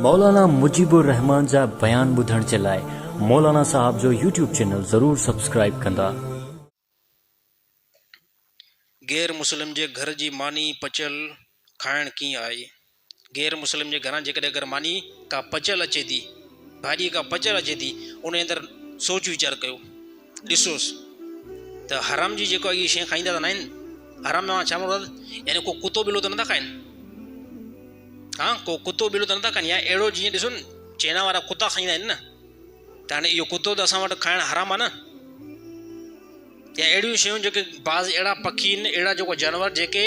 مولانا مجيب الرحمان جا بيان ٻڌڻ جي لاء مولانا صاحب جو يوٽيوب چينل ضرور سبسڪرائيب ڪندا. غير مسلم جي گهر جي ماني پچيل کائڻ ڪيئن آهي؟ غير مسلم جي گهران جيڪڏهن اگر ماني ڪا پچيل اچي ٿي، ڀاڄي ڪا پچيل اچي ٿي، انهي اندر سوچ ويچار ڪيو. ڏسوس ته حرام جي جيڪو اهي شيء کائيندا ته ناهن؟ حرام مان ڇا مراد؟ يعني ڪو ڪتو ٻلو ته نٿا کائن؟ ها ڪو ڪتو ٻلو ته نٿا کائن يا اهڙو جيئن ڏسو نه چينا وارا ڪتا کائيندا آهن نه ته هاڻي اهو ڪتو ته اسان وٽ کائڻ حرام آهي نه يا اهڙيون شيون جيڪي بعض اهڙا پکي آهن اهڙا جيڪو جانور جيڪي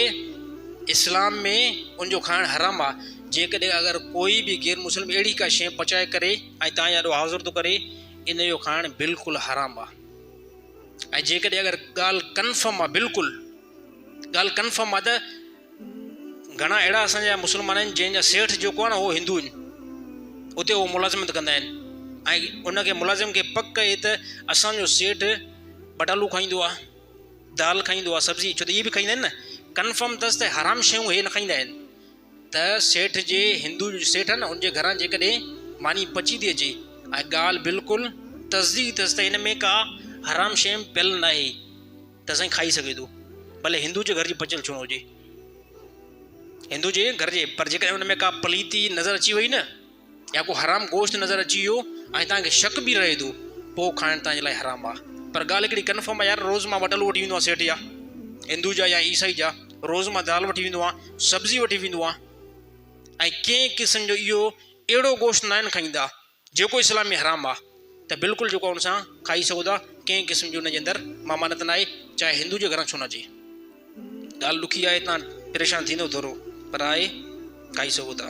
اسلام ۾ ان جو کائڻ حرام آ جيڪڏهن اگر ڪوئي به غير مسلم اهڙي ڪا شيء پچائي ڪري ۽ تان يا ڏو حاضر ٿو ڪري ان جو کائڻ بلڪل حرام آ ۽ جيڪڏهن اگر ڳالهه ڪنفرم آ بلڪل ڳالهه ڪنفرم آ ته گهڻا اهڙا اسان جا مسلمان آهن جنهن جا سيٺ جيڪو آ نه هو هندو آهن اتي هو ملازمت ڪندا آهن ۽ ان کي ملازم کي پڪ اهي ته اسان جو سيٺ بٽالو کائيندو آ دال کائيندو آ سبزي ڇو ته اهي به کائيندا آهن نه ڪنفرم تس ته حرام شيون هي نه کائيندا آهن ته سيٺ جي، هندوء جو سيٺ آهي نه، ان جي گهران جيڪڏهن ماني پچي ٿي اچي ۽ ڳالهه بلڪل تصديق ٿيس ته هن ۾ ڪا حرام شيء پيل ناهي ته سائين کائي سگهي ٿو، ڀلي هندوء جي گهر جي پچيل ڇونه هجي. هندوء جي گهر جي، پر جيڪڏهن ان ۾ ڪا پليتي نظر اچي وئي نه، يا ڪو حرام گوشت نظر اچي ويو ۽ توهان کي شڪ به رهي ٿو پوء کائڻ توهان جي لاء حرام آهي پر ڳالهه هڪڙي ڪنفرم آهي يار روز مان وٽلو وٺي ويندو آهيان سيٺ جا هندو جا يا عيسائي جا روز مان دال وٺي ويندو آهيان سبزي وٺي ويندو آهيان ۽ ڪنهن قسم جو اهو اهڙو گوشت ناهن کائيندا جيڪو اسلام ۾ حرام آهي. ته بلڪل جيڪو ان سان کائي سگهو ٿا ڪنهن قسم جي ان جي اندر ممانعت ناهي چاهي هندو جي گهران ڇو نه اچي ڳالهه ڏکي آهي تان پريشان ٿيندو ٿورو پر آهي کائي سگهو ٿا.